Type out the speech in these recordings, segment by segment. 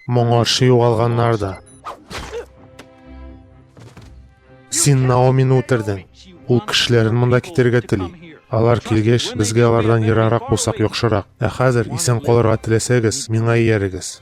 Моңарчы югалганнар да. Син Наомины үтердең. Ул кешеләрен монда китерергә тели. Алар килгәч, безгә алардан ерарак булсак яхшырак. Ә хәзер исән калырга теләсәгез, миңа иярегез.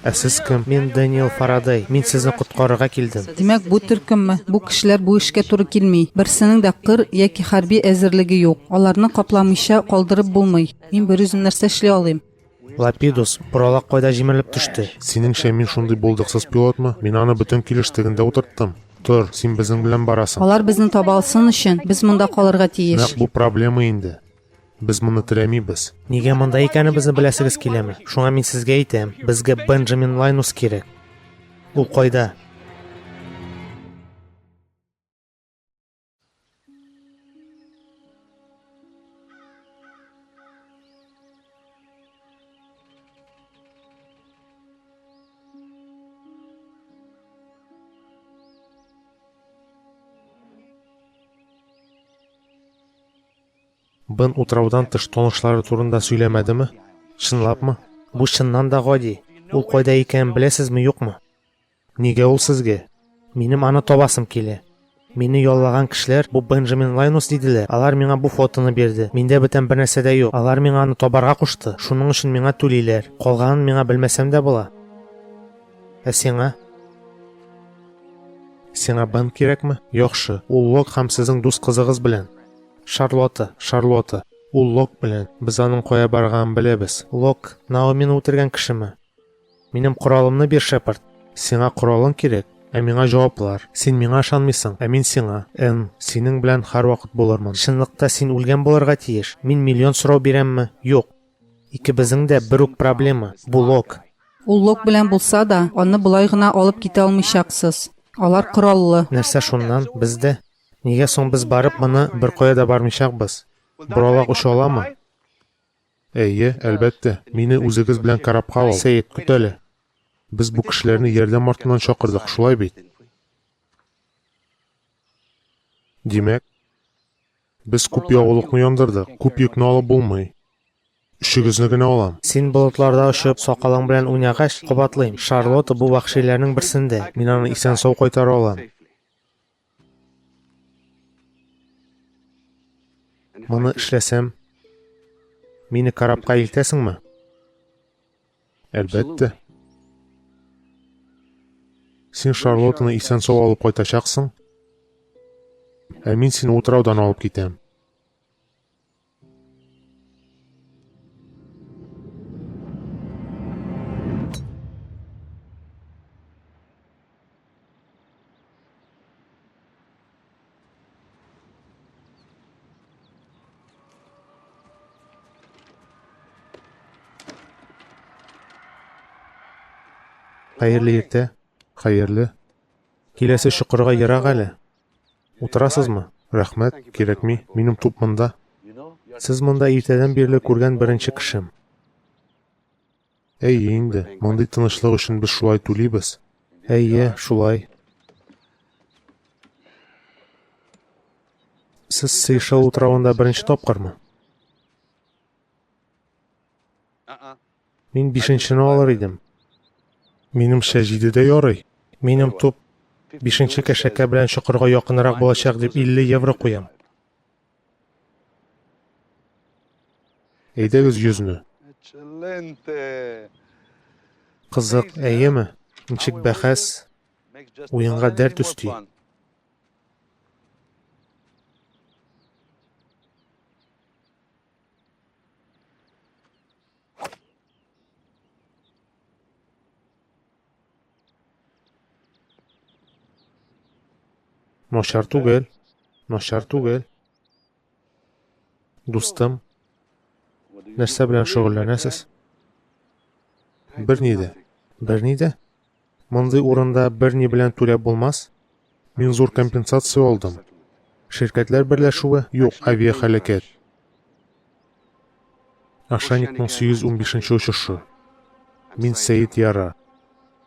Ә сез кем? Мин Дэниел Фарадей. Мин сезне коткарырга килдем. Димәк, бу төркемме? Бу кешеләр бу эшкә туры килми. Берсенең дә кыр яки хәрби әзерлеге юк. Аларны капламыйча калдырып булмый. Мин берүзем нәрсә эшли алыйм? Лапидус, боралак кайда җимерелеп төште? Синеңчә, мин шундый булдыксыз пилотмы? Мин аны бөтен килеш тегендә утырттым. Тор, син безнең белән барасың. Алар безне таба алсын өчен, без монда калырга тиеш. Нәкъ бу проблема инде. Без моны теләмибез. Нигә монда икәнебезне беләсегез киләме? Шуңа мин сезгә әйтәм, безгә Бенджамин Лайнус кирәк. Ул кайда? Бен утраудан тыш танышлары турында сөйләмәдеме? Чынлапмы? Бу чыннан да гади. Ул кайда икәнен беләсезме, юкмы? Нигә ул сезгә? Минем аны табасым килә. Мине яллаган кешеләр, бу Бенджамин Лайнус диделәр, алар миңа бу фотоны бирде. Миндә бүтән бернәрсә дә юк. Алар миңа аны табарга кушты, шуның өчен миңа түлиләр. Калганын миңа белмәсәм дә була. Ә сиңа? Сиңа Бен кирәкме? Яхшы, ул Лок һәм сезнең дус кызыгыз белән. Шарлотта, Шарлотта. Ул Лок белән. Без аның кая барганын беләбез. Лок, Наомины үтергән кешеме? Минем коралымны бир, шәпарт. Сиңа коралың кирәк, ә миңа җаваплар. Син миңа ышанмыйсың, ә мин сиңа. М, синең белән һәрвакыт булырмын. Чынлыкта син үлгән булырга тиеш. Мин миллион сорау бирәмме? Юк. Икебезнең дә бер үк проблема, бу Лок. Ул Лок белән булса да, аны болай гына алып китә алмыйчаксыз. Алар кораллы. Нәрсә шуннан, без дә? Нигә соң без барып моны беркая да бармыйчакбыз? Боралак оча аламы? Әйе, әлбәттә. Мине үзегез белән корабка ал. Сәет, көт әле. Без бу кешеләрне ярдәм артыннан чакырдык, шулай бит? Димәк, без күп ягулыкны яндырдык, күп йөкне алып булмый. Өчегезне генә алам. Син болытларда очып, сакалың белән уйнагач, кабатлыйм, Шарлотта бу вәхшиләрнең берсендә. Мин аны исән-сау кайтара алам. Моны эшләсәм, мине корабка илтәсеңме? Әлбәттә. Син Шарлоттаны исән сау алып кайтачаксың, ә мин сине утраудан алып китәм. Хәерле иртә, хәерле. Киләсе чокырга ерак әле. Утырасызмы? Рәхмәт, кирәкми, минем туп монда. Сез монда иртәдән бирле күргән беренче кешем. Әйе инде, мондый тынычлык өчен без шулай түлибез. Әйе, шулай. Сез Сейшел утравында беренче тапкырмы? Мин бишенчене алыр идем. Минемчә, җиде дә ярый. Минем туп бишенче кәшәкә белән чокырга якынрак булачак дип 50 евро куям. Әйдәгез йөзне. Кызык, әйеме? Ничек бәхәс? Уенга дәрт өсти. Начар түгел. Начар түгел. Дустым, нәрсә белән шөгыльләнәсез? Берни дә. Берни дә? Мондый урында берни белән түләп булмас. Мин зур компенсация алдым. Ширкәтләр берләшүе юк авиахәләкәт. Ошейникның 815 нче очышы. Мин Сәет Яра.